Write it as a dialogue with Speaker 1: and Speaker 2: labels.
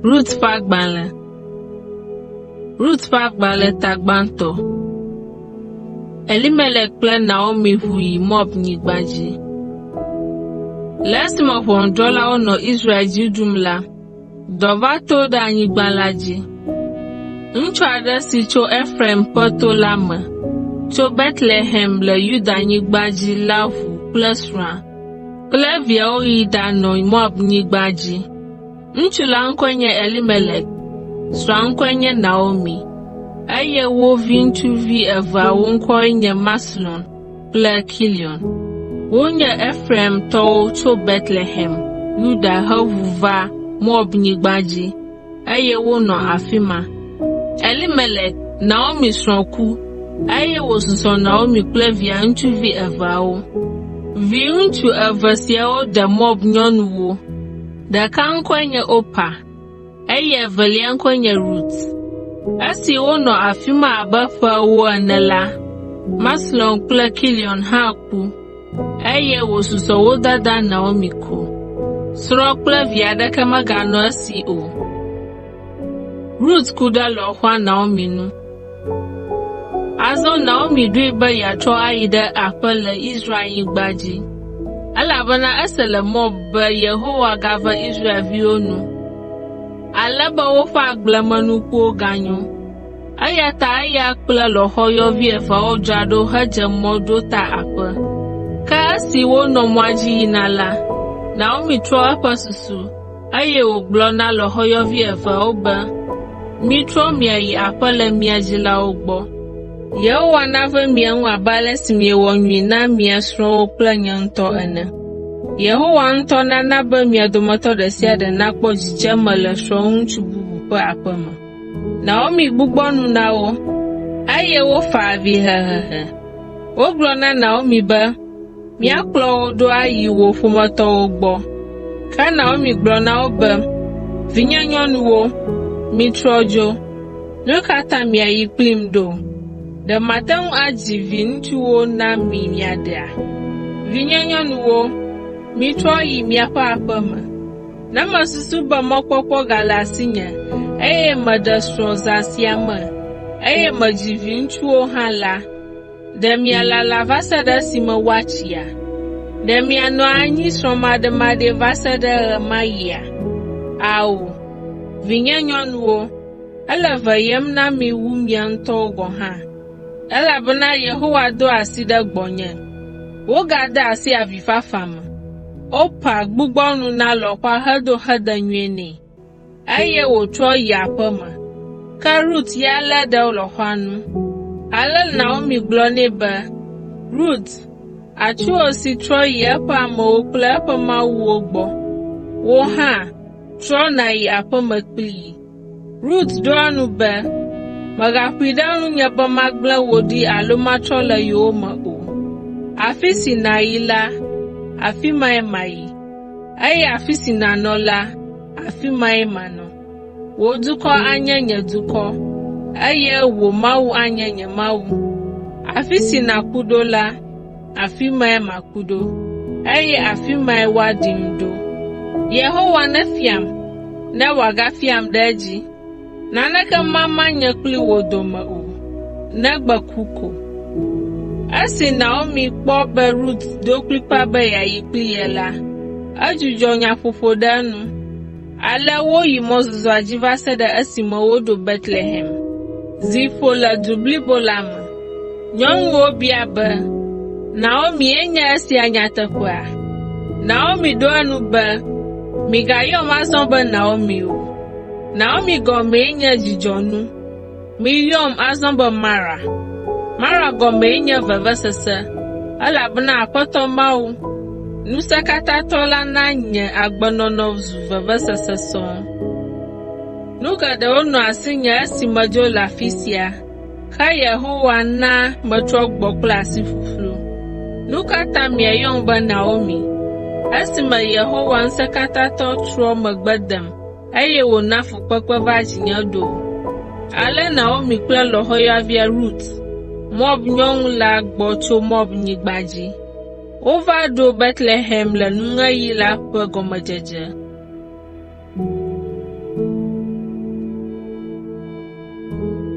Speaker 1: Rut ƒe agbalẽ Rut ƒe agbalẽ ta gbãtɔ Elimelek kple Naomi ʋu yi Moab nyigba dzi. Le esime ʋɔnudrɔ̃lawo nɔ Israel dzi ɖum la, Dɔ va to ɖe anyigba la dzi. Ŋutsu aɖe si tso Efraim ƒe to la me, tso Betlehem le Yudanyigba dzi la ʋu kple srɔ̃a kple viawo yi ɖanɔ Moabnyigba dzi. Ŋutsu la ŋkɔe nye Elimelek, srɔ̃a ŋkɔe nye Naomi, eye wo viŋutsuvi eveawo ŋkɔwoe nye Maxlon kple Kilion. Wonye Efraimtɔwo tso Betlehem, Yuda heʋu va Moabnyigba dzi, eye wonɔ afi ma. Elimelek, Naomi srɔ̃ ku, eye wòsusɔ Naomi kple via ŋutsuvi eveawo. Viŋutsu eve siawo de Moab nyɔnuwo. Ɖeka ŋkɔe nye Opa. eye evelia ŋkɔe nye Rut. Esi wonɔ afi ma abe ƒe ewo ene la, Maxlon kple Kilion hã ku, eye wòsusɔ wo dada Naomi ko. Srɔ̃ kple vi aɖeke meganɔ esi o. Rut ku ɖe lɔ̃xoa Naomi nu. Azɔ Naomi ɖoe be yeatrɔ ayi ɖe aƒe le Israelnyigba dzi, elabena ese le Moab be Yehowa gave Israelviwo nu, ale be woƒe agblemenukuwo ganyo. Eya ta eya kple lɔ̃xoyɔvi eveawo dzra ɖo hedze mɔ ɖo ta aƒe. Ke esi wonɔ mɔa dzi yina la, Naomi trɔ eƒe susu, Eye wògblɔ na lɔ̃xoyɔvi eveawo be, Mitrɔ miayi aƒe le mia dzilawo gbɔ. Yehowa nave mia ŋu abe ale si miewɔ nyui na mia srɔ̃wo kple nye ŋutɔ ene. Yehowa ŋutɔ nana be mia dometɔ ɖe sia ɖe nakpɔ dzidzeme le srɔ̃ŋutsu bubu ƒe aƒe me. Naomi gbugbɔ nu na wo, eye wofa avi hehehe. Wogblɔ na Naomi be, Míakplɔ wò ɖo ayi wò ƒometɔwo gbɔ. Ke Naomi gblɔ na wo be, Vinyenyɔnuwo, mitrɔ dzo. Nu ka ta miayi kplim ɖo? Ɖe mate ŋu adzi viŋutsuwo na mi miaɖea? Vinyenyɔnuwo, mitrɔ yi miaƒe aƒe me. Ne mesusu be mɔkpɔkpɔ gale asinye, eye meɖe srɔ̃ zã sia me, eye medzi viŋutsuwo hã la, Ɖe mialala va se ɖe esime woatsia? Ɖe mianɔ anyi srɔ̃maɖemaɖee va se ɖe ɣemaɣia? Ao, vinyenyɔnuwo, ele veyem na mi wu mia ŋutɔwo gɔ̃ hã, elabena Yehowa do asi ɖe gbɔnye, wogade asi avifafa me. Orpa gbugbɔ nu na lɔ̃xoa hedo xedenyui nɛ. Eye wòtrɔ yi aƒe me. Ke Rut ya lé ɖe lɔ̃xoa nu. Ale Naomi gblɔ nɛ be, Rut, atsuwò si trɔ yi eƒe amewo kple eƒe mawuwo gbɔ. Wò hã, trɔ nàyi aƒe me kplii. Rut ɖo eŋu be, Mègaƒoe ɖe ŋunye be magblẽ wò ɖi alo matrɔ le yowòme o. Afi si nàyi la, afi mae mayi. Eye afi si nànɔ la, afi mae manɔ. Wò dukɔ anye nye dukɔ, eye wò Mawu anye nye Mawu. Afi si nàku ɖo la, afi mae maku ɖo, eye afi mae woaɖim ɖo. Yehowa nefiam, ne wòagafiam ɖe edzi.” Naneke mama nye kple wò dome o, negbe ku ko. Esi Naomi kpɔ be Rut do kplikpaa be yeayi kpli ye la, edzudzɔ nyaƒoƒo ɖe enu. Ale woyi mɔzɔzɔa dzi va se ɖe esime woɖo Betlehem. Zi ƒo le du blibo la me. Nyɔnuwo bia be, “Naomie nye esia nyateƒea?” Naomi ɖo eŋu be, “Migayɔm azɔ be Naomi o. Naomi gɔmee nye dzidzɔnu. Miyɔm azɔ be Mara. Mara gɔmee nye vevesese, elabena Aƒetɔ Mawu, Ŋusẽkatãtɔ la na nye agbenɔnɔ zu vevesese sɔŋ. Nu geɖewo nɔ asinye esi medzo le afi sia, ke Yehowa na metrɔ gbɔ kple asi ƒuƒlu. Nu ka ta miayɔm be Naomi, esime Yehowa Ŋusẽkatãtɔ trɔ megbe dem eye wòna fukpekpe va dzinye ɖo. Ale Naomi kple lɔ̃xoyɔavia Rut, Moab nyɔnu la gbɔ tso Moab nyigba dzi. Wova ɖo Betlehem le nuŋeɣi la ƒe gɔmedzedze.